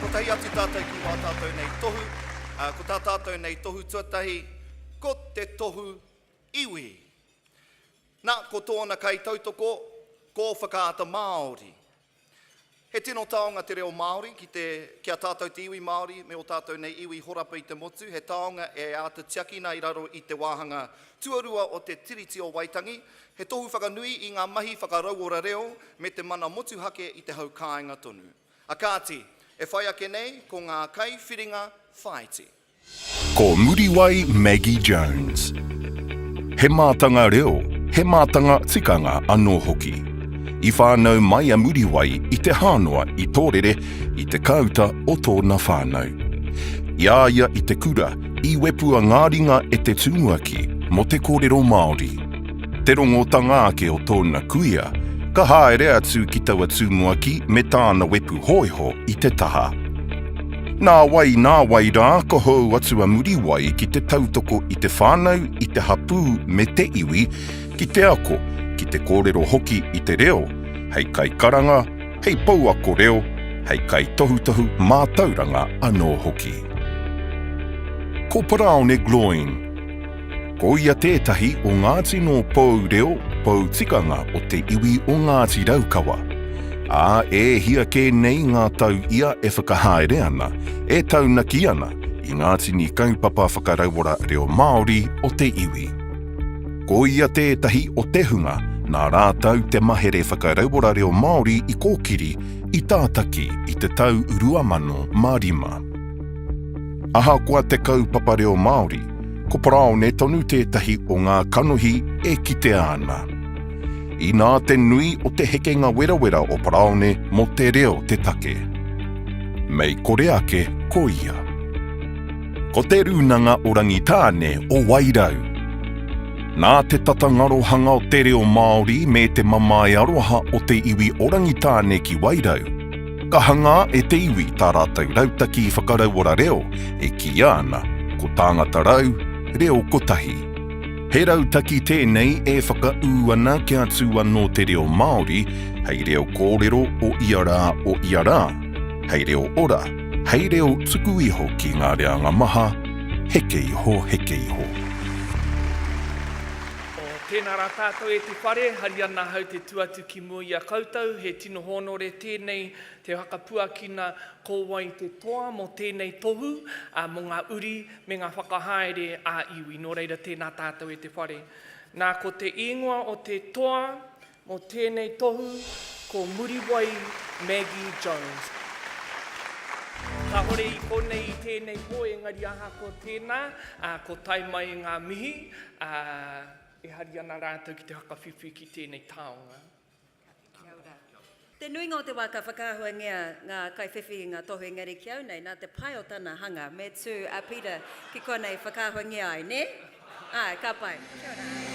Kotahi atu tātou ki wā tātou nei tohu, ā, ko tā tātou nei tohu tuatahi, ko te tohu iwi. Nā, ko tōna kaitautoko, ko Whakaata Māori. He tino taonga te reo Māori ki te, ki a tātou te iwi Māori me ō tātou nei iwi horapa i te motu, he taonga e āta tiakina i raro i te wāhanga tuarua o te Tiriti o Waitangi, He tohu whakanui i ngā mahi whakarauora reo me te mana motuhake i te hau kāinga tonu. A kāti, e whai ake nei, ko ngā kaiwhiringa whāiti. Ko Muriwai Maggie Jones. He mātanga reo, he mātanga tikanga anō hoki. I whānau mai a Muriwai i Te Hānoa i Tōrere i te kāuta o tōna whānau. I a ia i te kura, i wepua ngā ringa e te tumuaki mō te kōrero Māori. Te rongotanga ake o tōna kuia, ka haere atu ki taua tumuaki me tāna wepu hōiho i te taha. Nā wai, nā wai rā, ka hou atu a Muriwai ki te tautoko i te whānau, i te hapū me te iwi, ki te ako, ki te kōrero hoki i te reo, hei kaikaranga, hei pouako reo, hei kaitohutohu mātauranga anō hoki. Ko Paraone Gloyne. Ko ia tētahi o ngā tino pou reo, pou tikanga o te iwi o Ngāti Raukawa. Ā, e hia kē nei ngā tau ia e whakahaere ana, e taunaki ana i ngā tini kaupapa whakarauora reo Māori o te iwi. Ko ia tētahi o te hunga nā rātou te mahere whakarauora reo Māori i kōkiri, i tātaki i te tau 2005. Ahakoa te kaupapa reo Māori, ko paraone tonu tētahi o ngā kanohi e kitea ana. Inā te nui o te hekenga werawera o paraone mō te reo te take. Mei kore ake ko ia. Ko Te Rūnanga o Rangitāne o Wairau. Nā te tata ngarohanga o te reo Māori me te mamae aroha o te iwi o Rangitāne ki Wairau, Ka hangā e te iwi tā rātou rautaki whakarauora reo e kīia ana ko Tāngata Rau, Reo Kotahi. He rautaki tēnei e whakaū ana kia tū anō te reo Māori hei reo kōrero o ia rā o ia rā, hei reo ora, hei reo tuku iho ki ngā reanga maha, heke iho, heke iho. Tēnā rā tātou e te whare, hari ana ahau te tu atu ki mua i a koutou, he. Tino hōnore tēnei te whakapuakina ko wai te toa mō tēnei tohu, mō ngā uri me ngā whakahaere ā iwi. Nō reira tēnā tātou e te whare. Nā ko te īngoa o te toa mō tēnei tohu ko Muriwai Maggie Jones. Kāhore i konei i tēnei pō engari ahakoa tēnā, ko tae mai e ngā mihi, e hari ana rātou ki te whakawhiwhi ki tēnei taonga. Kia ora. Te nuinga o te wā ka whakaahuangia ngā kaiwhiwhi i ngā tohu engari ki au nei nā te pai o tana hanga me tū a Peter ki konei whakaahuangia ai, nē? Āe, ka pai. Kia ora.